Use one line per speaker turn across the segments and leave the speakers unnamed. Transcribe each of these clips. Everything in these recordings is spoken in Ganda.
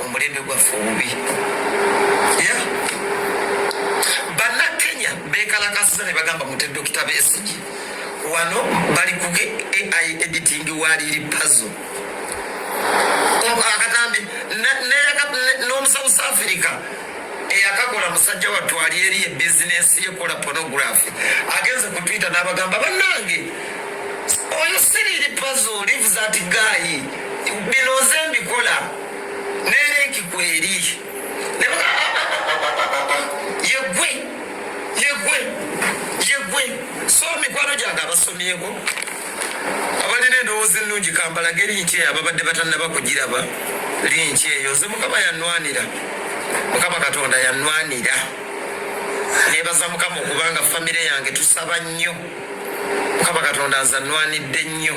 omulembe gwaffe obubi bannakenya bekalakasiza ne bagamba mute dokita besigi wano bali kuge ai editing waliri pazo akatambi neyaka n'omusauth africa eyakakola musajja wattu ali eri e bizinensi yekola pornography agenze ku twitter n'abagamba bannange oyo siriiri pazo live that guy bino nze mbikola nene nkikweri yegwe yegwe yegwe so mikwano gyange abasomyeko abalina endowooza ennungi kambalage linki eyo ababadde batannaba kugiraba linki eyo nze mukama yanwanira mukama katonda yanwanira nebaza mukama okubanga famire yange tusaba nnyo mukama katonda nze anwanidde nnyo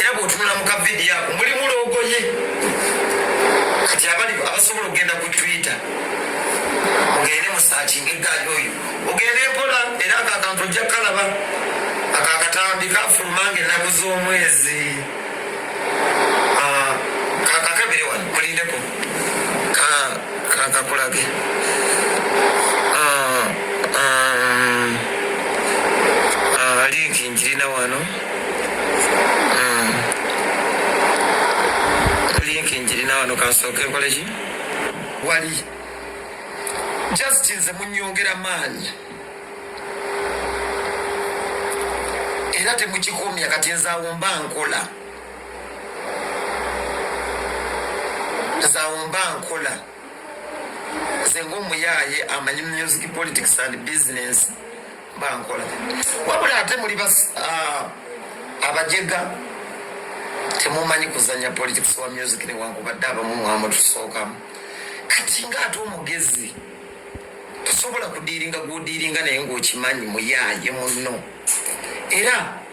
era bwotunula mu kavidiyo ako mulimu loogoye kati abali abasobola okugenda ku twitter ogende musakinga eggaali oyo ogende mpola era ako akantu ojja kukalaba ako akatambi kafuluma nga ennaku z'omwezi ah, kakakabire wano kulindeko kakakulage ah, ah, linki njirina wano wali just nze munyongera maanyi era temukikomya kati nze awo mba nkola nze awo mba nkola nze ngaomuyaaye amanyi music politics and business bankola wabula ate muli ah, abajega temumanyi kuzanya politics wa music newankubadde abamu mwamu tusookamu kati nga ate omugezi tosobola kudiiringa gwodiiringa naye ngaokimanyi muyaaye munno era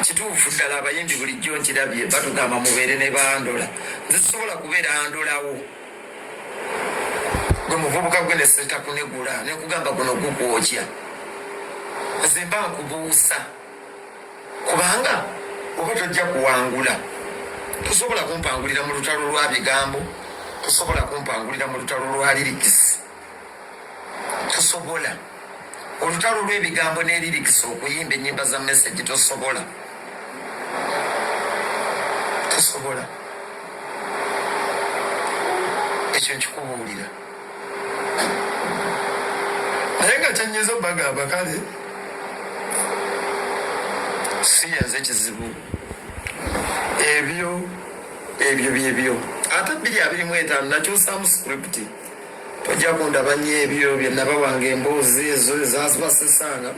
kituufu ddala abayimbi bulijjo nkirabye batugamba mubeere ne bandola nze sisobola kubeera ndolawo gwe muvubuka gwe neseta kunegula nekugamba guno gugwokya nze mba nkubuusa kubanga oba tojja kuwangula tosobola kumpangulira mu lutalo lwa bigambo tosobola kumpangulira mu lutalo lwa lirikisi tosobola olutalo lwebigambo nelirikisa okuyimba enyimba za message tosobola tosobola ekyo nkikubuulira naye nga kyanyiza obagamba kale siyaze kizibu ebyo ebyo byebyo ate biri abirimu etaano nakyusamu scripti tojja kundaba nnyo ebyo byenabawanga emboozi ezo ezazibasesanga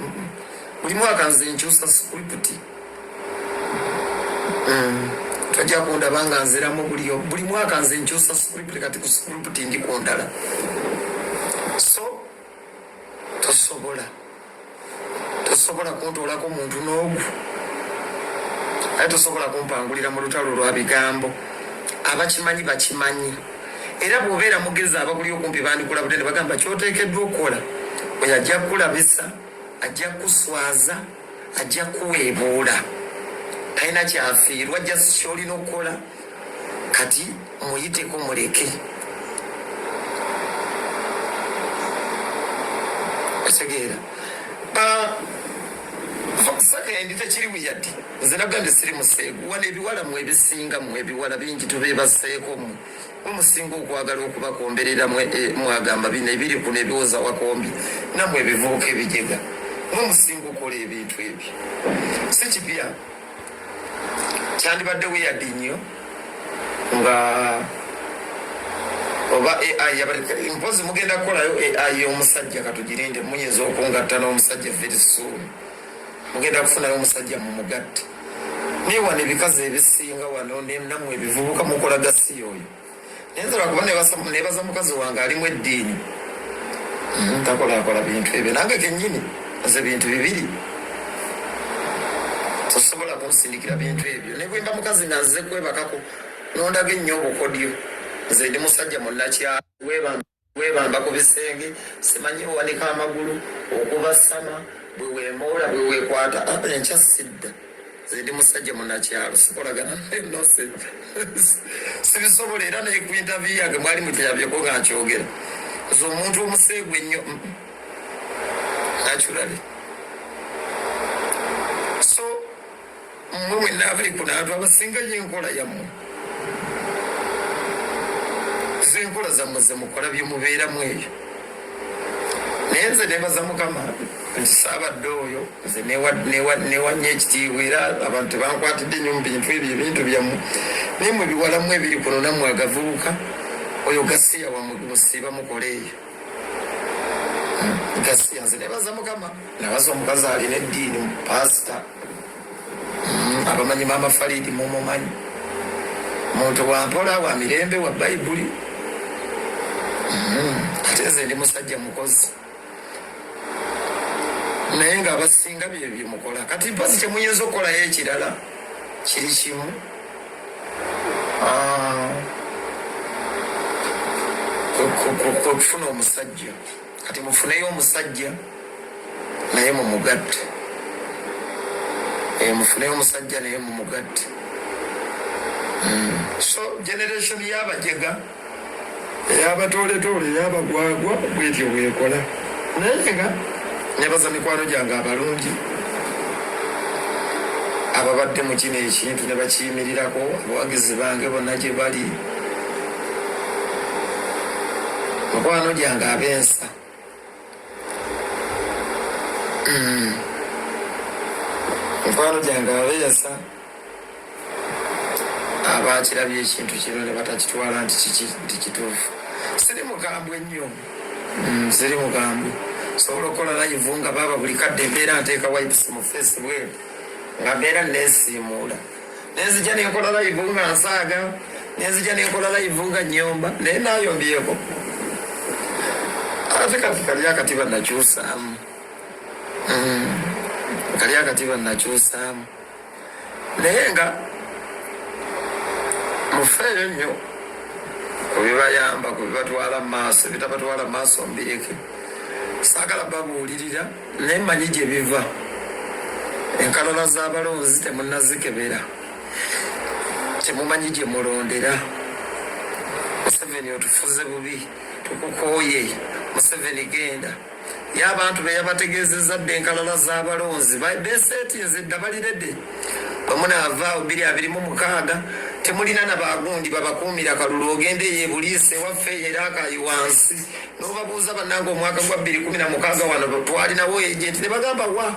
buli mwaka nze nkyusa script mm. tojja kundaba nga nziramu buliyo buli mwaka nze nkyusa script kati ku script ndi kundala so tosobola tosobola kuntuulako muntu n'ogu naye tosobola kumpangulira mu lutalo lwa bigambo abakimanyi bakimanyi era bwobeera mugezi abakuli okumpi bandikulabudde ne bagamba kyoteekeddwa okukola oyo ajja kukulabisa ajja kukuswaza ajja kuweebuula talina kyafiirwa jasi kyolina okukola kati muyiteko muleke otegeera sakaendi tekiri buyadi nze nagambye siri museegu wano ebiwala mu ebisinga mu ebiwala bingi tubebaseeko mu mumusinga okwagala okubakomberera eh, mwagamba bino ebiri kuno ebiwoza wakombi namwe ebivubuka ebijega mumusinga okola ebintu ebyo sikipya kyandibadde weyadi nnyo nga oba ai mpozi mugenda kukolayo ai y'omusajja katugirinde muyinza okungatta n'omusajja very soon mugenda kufunayo omusajja mu mugatte naye wano ebikazi ebisinga wano namwe ebivubuka mukola gasiya oyo nenzala kuba nebaza mukazi wange alimu eddiini hmm, takolakola bintu ebyo nange kenyini aze bintu bibiri tosobola kunsindikira bintu ebyo nebwemba mukazi naze kwebakako nondaga ennyo obukodyo nze ndi musajja munakyawebanga webamba ku bisenge simanyi owanika amagulu okubasama bwe wemoola bwe wekwata aba enkya sidda zedi musajja munakyalo sikolagana nose sibisobola era naye ku intavi yange mwali muteyabyeko nga nkyogera nze omuntu omuseegu ennyo nakyulabi so mmwe mwenna abali ku naatu abasinga yo enkola yammwe z'enkola zammwe ze mukola bye mubeeramu eyo naye nze nebaza mukama nti saabadde oyo nze newanya ekitiibwa era abantu tebankwatidde nyo mu bintu ebyo ebintu byammwe naye mwe biwalamu ebiri kuno nammwe agavubuka oyo gasiya wamusiiba mukola eyo gasiya nze nebaza mukama nabaza omukazi alina eddiini mu pasita mm, abamanyi maama falidi mumumanyi muntu wampola wa mirembe wa bayibuli mm, ate nze ndi musajja mukozi naye nga abasinga bye byemukola kati mpasi kyemuyinza okukolayo ekirala kiri kimu ah, kufuna omusajja kati mufuneyo omusajja naye mumugatte eh, mufuneyo omusajja naye mumugatte hmm. so generation yabajega eyabatooletoole eyabagwagwa bwetyo bwekola naye nga nebaza mikwano gyange abalungi ababadde mu kino ekintu ne bakiyimirirako abawagizi bange bonna gye bali mukwano gyange abensa mm. mukwano gyange abensa abakirabye ekintu kino ne batakitwala nti kiki nti kituufu siri mugambwe nnyo mm, siri mugambwe sobola okukola layivu nga baaba buli kadde embeera nteeka wipes mu feesi bweru nga mbeera neesiimuula nenzija nenkola layivu nga nsaaga nenzija nenkola layivu nga nyomba naye nayombyeko ate kati kali akati banakyusaamu mm. kali akati banakyusaamu naye nga mufeeyo nnyo kubibayamba kubibatwala mu maaso ebitabatwala mu maaso mbireke saagala babuulirira naye manyi gye biva enkalala z'abalonzi temunazikebera temumanyi gye mulondera museveni otufuze bubi tukukooye museveni genda ye abantu be yabategeezezza dde enkalala z'abalonzi beseetinze dda balirede bamunaava biri abiri mu mukaaga temulina na bagundi babakuumira kalulu ogenda eyo ebuliisa ewaffe era akayi wansi nobabuuza banange omwaka gwa bbiri kumi na mukaaga wano twalinawo agenti nebagamba wa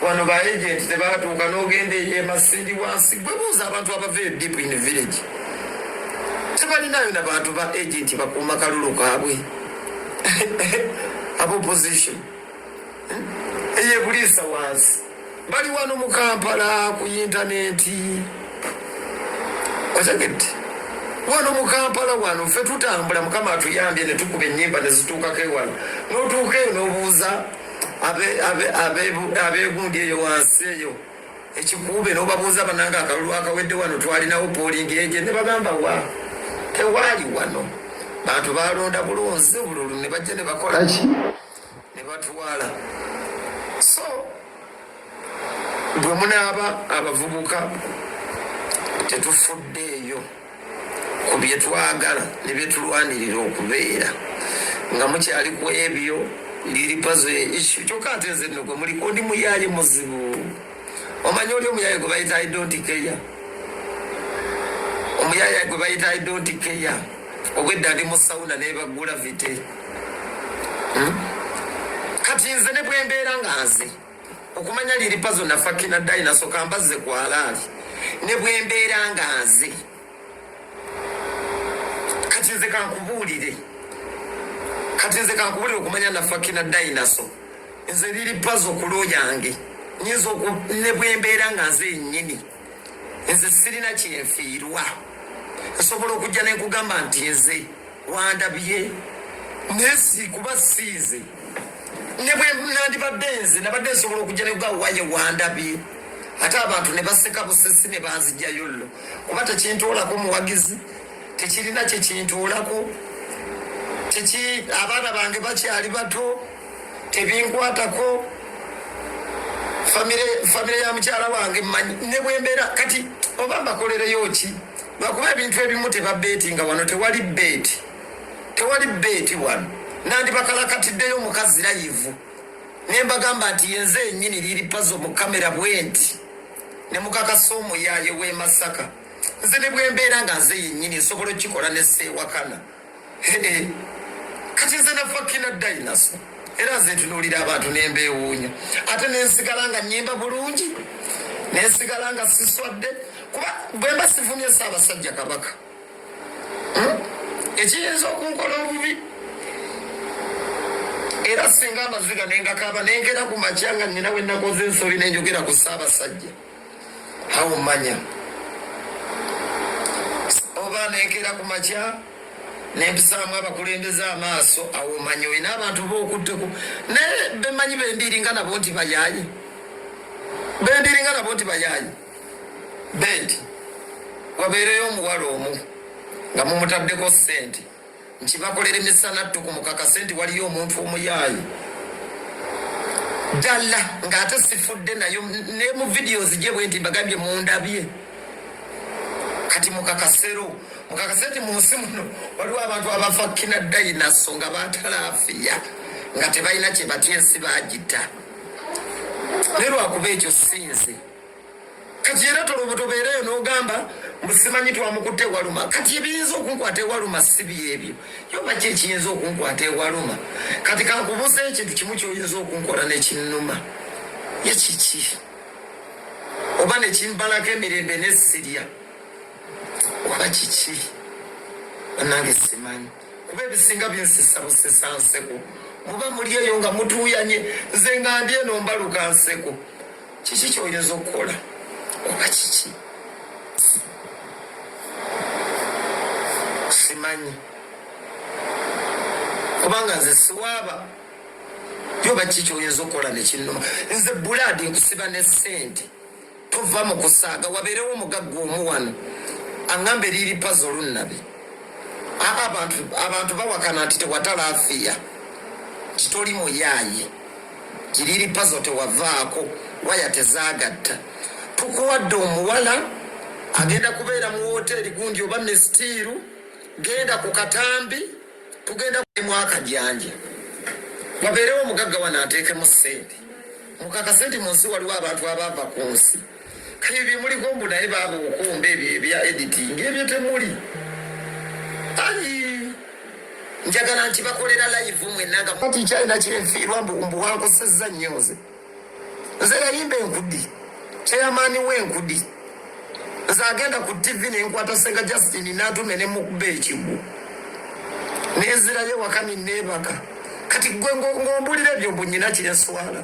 wano ba agenti tebatuuka nogenda eyemasindi wansi gwebuuza abantu abava eyo deep in village tebalinayo na bantu ba agenti bakuuma kalulu kaabwe abo position eyebuliisa wansi bali wano mu kampala ku yintanenti otegedde wano mu kampala wano ffe tutambula mukama atuyambye ne tukuba ennyimba ne zituukako ewano n'otuuka eyo n'obuuza abeegundi eyo wansi eyo ekikuube n'obabuuza bananga akalulu akawedde wano twalinawo poolingi eje ne bagamba wa tewaali wano bantu balonda bulonzi bululu ne bajja ne bakolaki ne batwala so bwe munaaba abavubuka tetufuddeeyo ku bye twagala ne bye tulwanirira okubeera nga mukyali ku ebyo ndiri pazo yeishu kyokka ate nze nno gwe muli ondi muyaaye muzibu omanyi oli omuyaaye gwe bayita idontigeya omuyaaye gwe bayita idontigeya obwedda ndi mu sawuna nebagula vite hmm? kati nze ne bwembeera nga nze okumanya liripa zonna fakina dayinaso kambazze kwalaali ne bwembeera nga nze kati nze kankubuulire kati nze kankubuulire okumanya nafakina dayinaso nze liripa zo kulo yange nyinza ne bwembeera nga nze yennyini nze sirina kyenfiirwa nsobola okujja nenkugamba nti nze wandabye naye sikuba siize ne bwe nandibadde nze nabadde nsobola okujja nekugamba waye wandabye ate abantu ne baseka busesi ne banzijayo llo kuba tekintuulako muwagizi tekirina kyekintuulako teki abaana bange bakyali bato tebinkwatako famire ya mukyala wange manyi ne bwembeera kati oba mbakolereyo ki lwakuba ebintu ebimu tebabeeti nga wano tewali beeti tewali beeti wano nandibakalakatiddeyo omukazi layivu nembagamba nti yenze enyini liri pazo mu kamera bwenti nemukakasa omuyaye wemasaka nze nebwembeera nga nze yenyini nsobola okukikola neseewakana Hee, kati nze nafakina dayinaso era nze ntunuulira abantu nembeewuunya ate nensigala nga nyimba bulungi nensigala nga siswadde kuba bwemba sivumye saabasajja kabaka hmm? ekiyinza okunkola obubi era singa amaziga nengakaaba nengera ku makya nga nina wenakoze ensobi nenjogera ku saabasajja awo manya oba nenkera ku makya nempisaamu abakulembeze amaaso awo manya olina abantu bokutteko naye bemanyi bembiringa nabo nti bayayi bembiringa nabo nti bayayi bendi wabeereyo omuwala omu nga mumutaddeko sente nti bakolera emisana ttuku mukakase nti waliyo omuntu omuyaaye ddala ng'ate sifudde nayo ne mu vidiyo zigye bwe nti mbagambye mundabye kati mukakasero mukakase nti mu nsi muno waliwo abantu abafa kina dayinaso nga batalaafiya nga tebalina kye batya ensi baagita naye lwakuba ekyo sinze kati era tolobotobeereyo n'ogamba musimanyi twamukutte ewaluma kati ebiyinza okunkwata ewaluma si byebyo yoba ki ekiyinza okunkwata ewaluma kati kankubuza ekintu kimu kyoyinza okunkola nekinnuma ye kiki oba nekimbalako emirembe nesirya oba kiki banange simanyi kuba ebisinga binsisa busisa nseko muba muli eyo nga mutuuyanye nze nga ndi eno mbaluka nseko Kiki kyoyinza okukola oba kiki simanyi kubanga nze siwaaba yoba kiki kyoyinza okukola nekinuma nze bulaadi nkusiba ne sente tova mu kusaaga wabeerewo omugagga omu wano aŋamba eriiri pazi olunnabi abantu bawakana nti tewatala afiya titoli muyaaye Kiriri pazo tewavaako waya tezagatta. Tukuwadde omuwala agenda kubeera mu woteeri gundi oba misitiiru, genda ku katambi tugenda kulimu akajanja wabeerewo omugagga wano ateekemu ssente mukakase nti mu nsi waliwo abantu abaava ku nsi kale bye muliko mbu naye baaba okumba ebyo ebya editing ebyo temuli ayi njagala nti bakolera live mwenanga kati kyalina kyenfiirwa mbu wankosezza nnyo nze nze yayimba enkudi kyeyamaani we enkudi nze agenda ku tv nenkwata senga justin natume nemukuba ekigwo nenzirayo waka ninebaka kati gwe ngombulira ebyo mbunyina kyenswala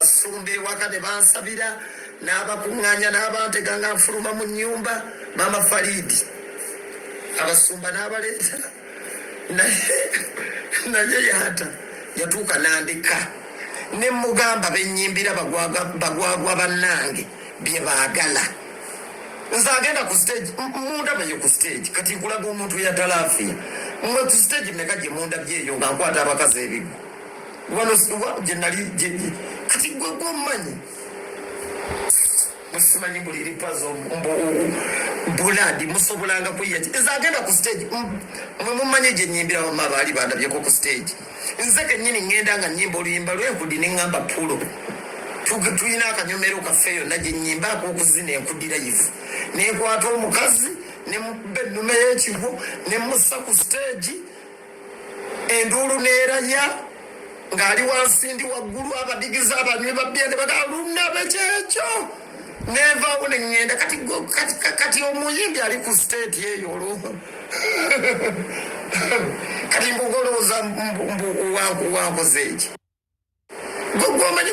Basumba ewaka ne bansabira n'abakuŋŋaanya n'abantega nga nfuluma mu nnyumba maama Faliidi abasumba n'abaleeta naye naye yata yatuuka n'andeka ne mugamba bennyimbira bagwagwa bannange bye baagala nze agenda ku stage mundabayo ku stage kati nkulaga omuntu yatalaafia mwe ku stage meka gye mundabyeyo nga nkwata abakazi ebiggu kati gwe gwomumanyi musimanyi buli lipazo buladi musobolanga kuyaki nze agenda ku stage mwe mumanyi gye nyimbira wama baali bandabyeko ku stage nze kenyini ngenda nga nyimba oluyimba lwenkudi ne ngamba pulo tulina akanyomero kaffe yonna gye nyimba akokuzina enkudira yivu nenkwata omukazi nemubba ennume yekigo nemusa ku stage enduulu neeranya ng'ali wansi ndi waggulu abadigize abanywi babbya ne bagaa lunabe kyekyo nenvaawo ne ŋŋenda kati kati omuyimbi ali ku siteeti eyo olwo kati mbugolooza mbu wankoze eki gwe gwomanyi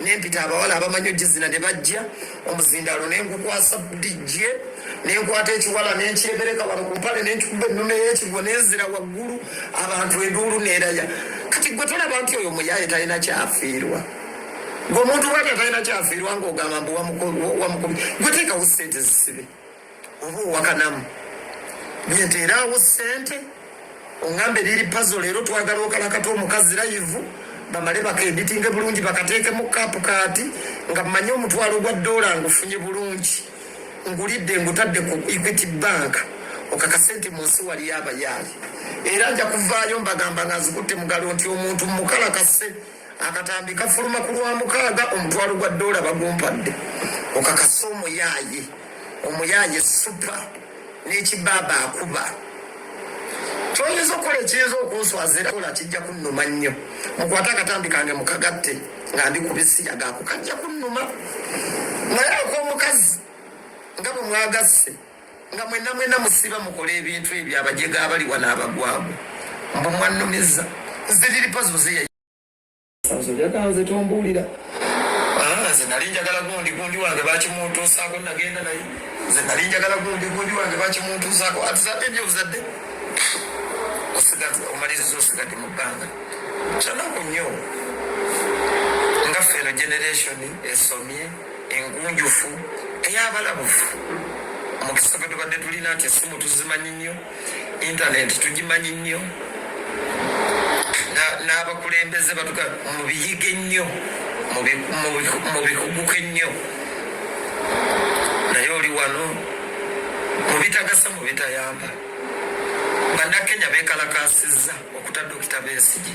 nempita abawala abamanyi ogizina ne bajja omuzindaalo nengukwasa dijje nenkwata ekiwala nenkyebereka wano ku mpale nenkikuba ennume yekigwo nenzira waggulu abantu enduulu neraya kati gwe tolaba nti oyo muyaye talina kyafiirwa gwe omuntu bwatya talina kyafiirwa ngaogamba mbu wamukubi gwe teekawo sente zisibe oba owakanamu nyenteeraawo ssente oŋŋamba eriri pazo leero twagala okalakata omukazi layivu bamale bakenditinge bulungi bakateekemu kaapu kaati nga mmanyi omutwalo gwa ddoola ngufunye bulungi ngulidde ngutadde ku equity bank okakase nti mu nsi waliyo abayaali era nja kuvaayo mbagamba nga nzikutte mugalo nti omuntu mukalakase akatambi kafuluma ku lwa mukaaga omutwalo gwa doola bagumpadde okakasa omuyaaye omuyaaye supa n'ekibaaba akuba kyoyinza okukola ekiyinza okunswazira kola kijja kunnuma nnyo mukwate akatambi kange mukagatte nga ndi ku bisiya gaako kajja kunnuma naye ak'omukazi nga bwe mwagasse nga mwena mwena musiba mukola ebintu ebyo abajega abali wano abagwago mbu mwannumiza nziriripa zoze yayakanze tombuulira ah, nze nali njagala gundi gundi wange bakimuntuusaako nagenda naye nze nali njagala gundi gundi wange bakimuntuusaako atuzadde ebyo obuzadde omaliriza osigadde mu bbanga kyanaku nnyo nga ffe eno generation esomye engunjufu ey'abalabufu omukisa gwe tubadde tulina nti essimu tuzimanyi nnyo intaneti tugimanyi nnyo n'abakulembeze batuga mubiyige nnyo mubikuguke nnyo naye oli wano mubitagasa mubitayamba bannakenya bekalakasizza okuta dokita besigi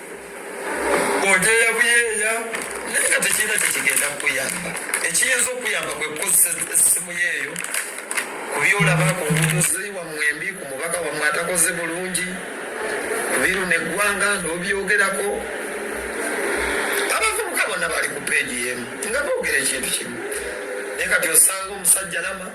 oteya buyeeya naye nga tekirina kyekigenda kukuyamba ekiyinza okuyamba kwe kukozesa essimu yeeyo ku byolaba ku ngudozi wamwe embi ku mubaka wamwe atakoze bulungi biru neggwanga nobyogerako abavubuka bona bali ku peegi yemu nga boogera ekintu kimu naye kati osanga omusajja lama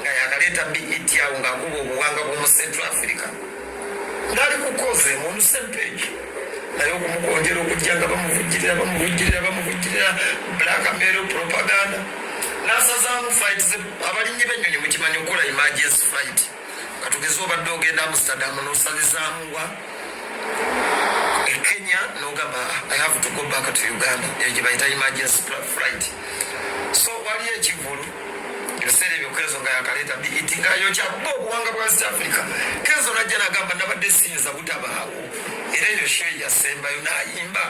nga yakaleeta BET awo ng'akuba obuwanga bw'omu Central Africa ngali kukoze mu lusempage naye okumukonjera okujja nga bamuvujjirira bamuvujjirira bamuvujjirira black mero propaganda nasazaamu fight abalinyi b'ennyonyi mukimanyi okukola emergency fight katugeze obadde ogenda amsterdam nosalizaamu wa ekenya nogamba i have to go back to uganda eyo gyebayita emergency flight so waliyo ekivulu ebiseera ebyo kenzo nga yakaleeta biiti nga yokya bo obuwanga bwa east africa kenzo najja nagamba nabadde siyinza butabaawo era eyo she yasembayo nayimba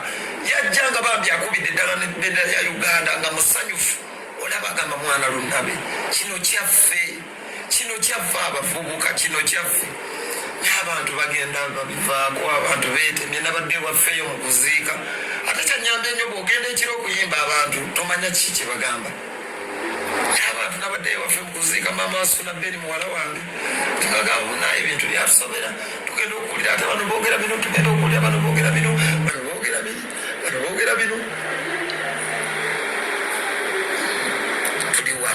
yajja nga bambi akubidde eddala nebendera ya uganda nga musanyufu olaba agamba mwana lunabe kino kyaffe kino kyaffe abavubuka kino kyaffe abantu bagenda babivaako abantu betemye nabadde waffeyo mu kuziika ate kyanyambye nyo bwogenda ekiro okuyimba abantu tomanya kiki kyebagamba abantu nabadde ewaffe mukuziika maama wasula beni muwala wange tugagamba naye ebintu byatusobera tugenda okuwulira ate bano bogera bino tugenda okuwulira bano bogera bino bano bogera bino bano bogera bino tuliwa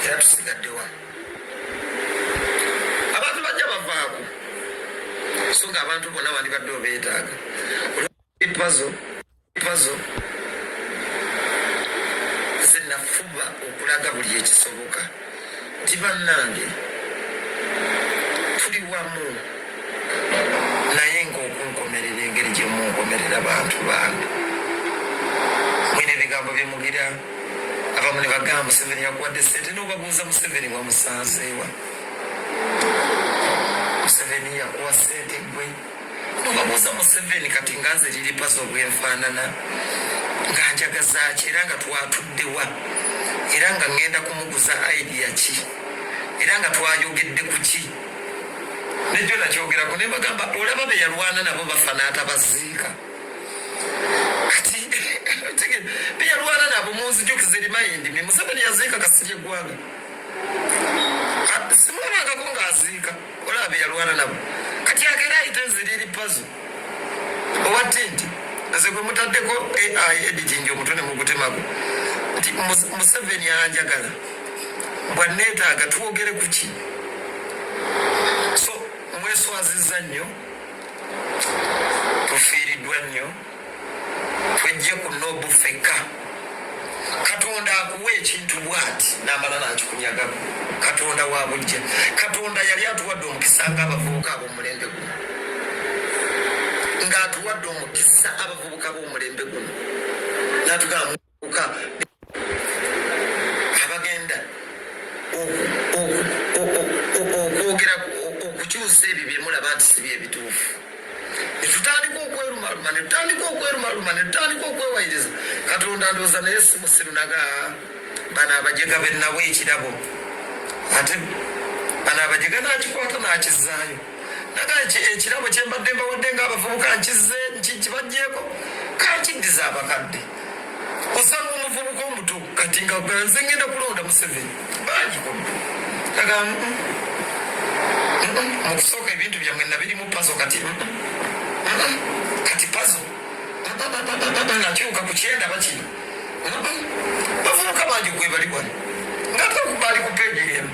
era tusigaddewa abantu bajja bavaako so nga abantu bona wandibadde obeetaaga pazo Pazo nze nafuba okulaga buli ekisoboka nti bannange tuli wamu naye ngaokunkomerera engeri gyemunkomerera bantu bange mwina ebigambo byemugira abamu ne bagamba museveni yakuwadde sente nobabuuza museveni wamusanzeewa museveni yakuwa sente gwe obabuuza museveni kati nga nze liri pazo bwenfaanana nga njagazaaki era nga twatuddewa era nga ŋŋenda kumuguza idea ki era nga twayogedde ku ki nejo nakyogerako ne bagamba olaba be yalwana nabo bafa n'atabaziika kati be yalwana nabo munzijukiza erimayindi mi museveni yaziika kasirye eggwanga simulabangako ng'aziika olaba beyalwana nabo kati agera ayita eziriri pazo oba tinti nze gwe mutaddeko ai editing omutwe ne mugutemako nti museveni anjagala bwanneetaaga twogere ku ki so mweswaziza nnyo tufiiriddwa nnyo twejje ku nobu fekka katonda akuwa ekintu bwati namala nakikunyagaku katonda wabujja katonda yali atuwadde omukisa nga abavubuka abomulembe guno nga atuwadde omukisa abavubuka bomulembe guno natugamba abagenda okwogera okukyusa ebyo byemulaba nti si byebituufu netutandika okwerumaluma netutandika okwerumaluma netutandika okwewayiriza katonda ndooza naye simusiru naga bano abajega benabo ekirabo ate bano abajega nakikwata nakizaayo ekirabo kyembadde mbawadde ngaabavubuka nkize nkibajeko kankiddiza abakadde osanga omuvubuka omuto kati nga nze ngenda kulonda museveni bangiko aga mukusooka ebintu byamwe nabirimu pazo kati kati pazo nakyuka kukyenda bakino bavubuka bangi gwebali wano ngatekubali kupegeremu